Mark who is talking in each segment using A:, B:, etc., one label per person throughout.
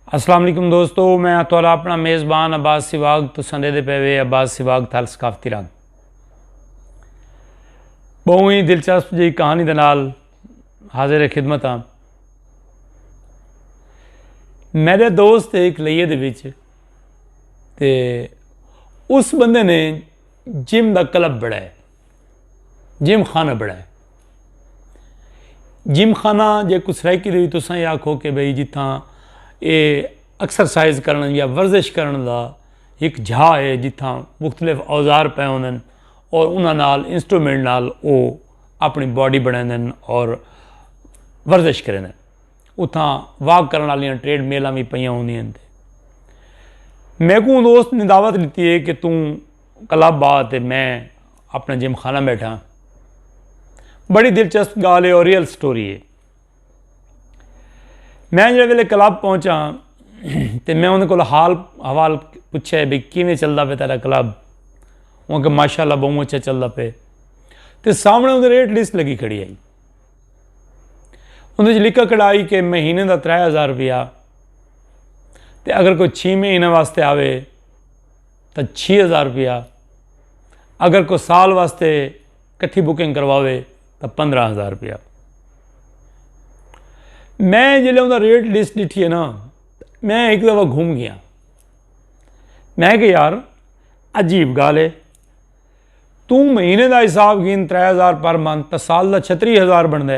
A: السلام علیکم دوستو میں تھوڑا اپنا میزبان عباس سواگ تو سندے دے پے وے عباس سواگ تھال ثقافتی رنگ بہو ہی دلچسپ جی کہانی دے نال حاضر خدمت ہاں میرے دوست ایک لیے دے وچ تے اس بندے نے جم دا کلب بڑھایا جم خانہ بنایا جم خانہ جے کو سرائیکی دے تو سائیں آکھو کہ بھئی جتھاں اے ایکسرسائز کرن یا ورزش کرن دا ایک جھا ہے جتھاں مختلف اوزار پے ہوندن اور انہاں نال انسٹرومنٹ نال او اپنی باڈی بنائیں اور ورزش کریں اتھاں واک کرن والیاں ٹریڈ میلاں بھی پیاں ہوندیاں میں کو دوست نے دعوت لیتی ہے کہ توں کلب آ تے میں اپنا جم خانہ بیٹھا بڑی دلچسپ گال ہے اور ریئل سٹوری ہے میں جڑے ویلے کلب پہنچا تے میں انہیں کو حال حوال پوچھا ہے بھائی کیویں چلدا پہ تیرا کلب وہ کہ ماشاء اللہ بہت اچھا چلدا پہ تے سامنے انہیں ریٹ لسٹ لگی کھڑی آئی انہیں لکھا کھڑائی کہ مہینے دا ترے ہزار روپیہ تے اگر کوئی چھ مہینے واسطے آوے تاں چھی ہزار روپیہ اگر کوئی سال واسطے کٹھی بکنگ کرواوے تاں پندرہ ہزار روپیہ میں جلے انہوں ریٹ لسٹ ڈٹھی ہے نا میں ایک دفعہ گھوم گیا میں کہ یار عجیب گال ہے توں مہینے دا حساب گھن ترے ہزار پر منتھ تا سال دا چھتری ہزار بن دے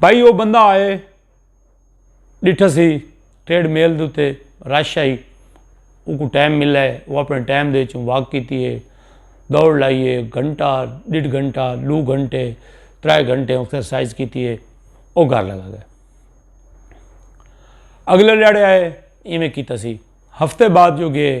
A: بھائی وہ بندہ آئے ڈٹھ سی ٹریڈ میل دے رش آئی ان کو ٹائم ملا ہے وہ اپنے ٹائم دے چوں واک کیتی ہے دوڑ لائیے گھنٹہ ڈیڑھ گھنٹہ دو گھنٹے ترائے گھنٹے ایکسرسائز کیتی ہے وہ گھر لگا گیا اگلے لڑے آئے ایویں کیتا سی ہفتے بعد جو گئے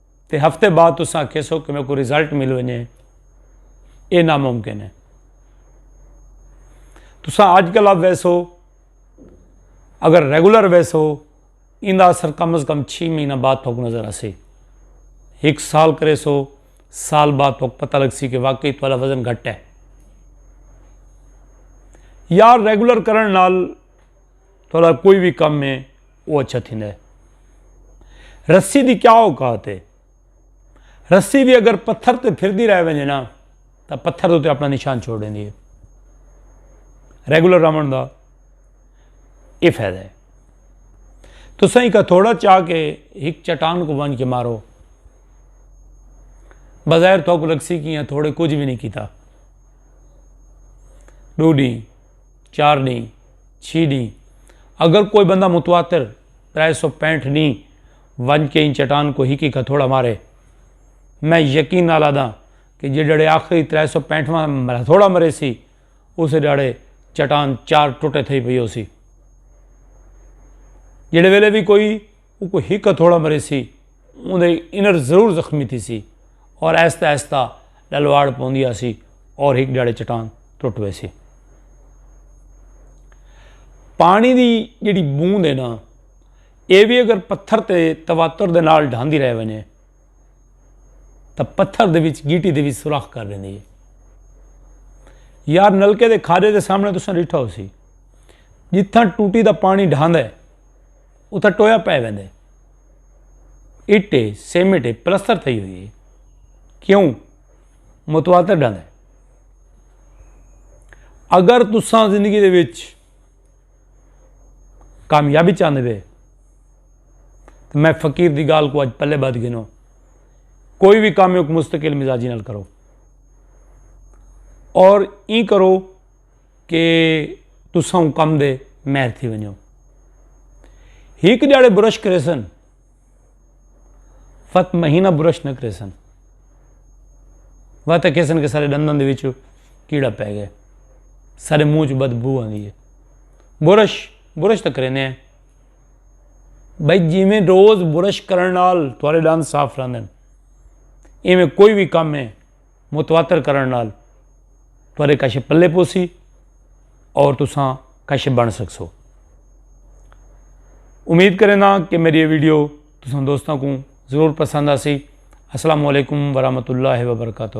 A: تے ہفتے بعد تساں آکھیسو کہ میکوں رزلٹ مل ونجے، ایہ ناممکن ہے۔ تساں اج کلب ویسو، اگر ریگولر ویسو، ایندا اثر کم از کم چھی مہینہ بعد تہاکوں نظر آسی۔ ہک سال کریسو، سال بعد تہاکوں پتہ لگسی کہ واقعی تہاڈا وزن گھٹ ہے۔ یا ریگولر کرݨ نال تہاڈا کوئی وی کم ہے۔ او اچھا تھیندا ہے۔ رسی دی کیا اوقات ہے؟ رسی وی اگر پتھر تے پھردی رہ ونجے نا تاں پتھر اتے اپنا نشان چھوڑ ڈیندی ہے۔ ریگولر راون دا اے فائدہ ہے۔ تساں ایک ہتھوڑا چا کے ایک چٹان کو ونج کے مارو۔ بظاہر تھوک لگسی کیاں تھوڑے کچھ وی نہیں کیتا۔ ڈو ڈی۔ چار ڈینھ، چھی ڈینھ اگر کوئی بندہ متواتر، ترے سو پینٹھ ڈینھ، ونج کے ایں چٹان کوں ہکی کھتھوڑا مارے۔ میں یقین نال آدھاں کہ جیڈڑے آخری ترے سو پینٹھ واں ہتھوڑا مریسی اسے ڈاڑے چٹان چار ٹٹے تھئی پئی ہوسی۔ جیڈے ویلے وی کوئی۔ اوکوں ہک ہتھوڑا مریسی اوندی انر ضرور زخمی تھیسی اور آہستہ آہستہ ڈلواڑ پوندی آسی اور ہک ڈیاڑے چٹان ٹٹ ویسی۔ پانی دی جیڑی بوند ہے نا اے وی اگر پتھر تے تواتر دے نال ڈھاندی رہ ونجے تاں پتھر دے وچ گیٹی دے وچ سوراخ کر ویندی ہے۔ یار نلکے دے کھارے دے سامنے تساں ڈیٹھا ہوسی جتھاں ٹوٹی دا پانی ڈھاندا ہے۔ اتھا ٹویا پے ویندے اٹ ہے سیمنٹ ہے پلستر تھئی ہوئی ہے کیوں متواتر ڈھاندے اگر تساں زندگی دے وچ کامیابی چاہتے پے تو میں فقیر دی گال کو اج پلے بد گنو کوئی بھی کام ایک مستقل مزاجی نال کرو اور ای کرو کہ تساں اوں کم دے مہر تھی ونجو ہک جاڑے برش کریسن فت مہینہ برش نہ کریسن وت کیسن کے سارے دندن دے وچ کیڑا پے گئے سارے منہ چ بدبو آندی ہے برش برش تک کرینے ہیں بھائی جیویں روز برش کرن نال تھوڑے دند صاف رہندن ایویں کوئی بھی کم ہے متواتر کرݨ نال تہاݙے کشف پلے پوسی اور تساں کشف بݨ سڳسو۔ امید کرینداں کہ میݙی ایہ ویڈیو تساں دوستاں کوں ضرور پسند آسی۔ السلام علیکم ورحمۃ اللہ وبرکاتہ۔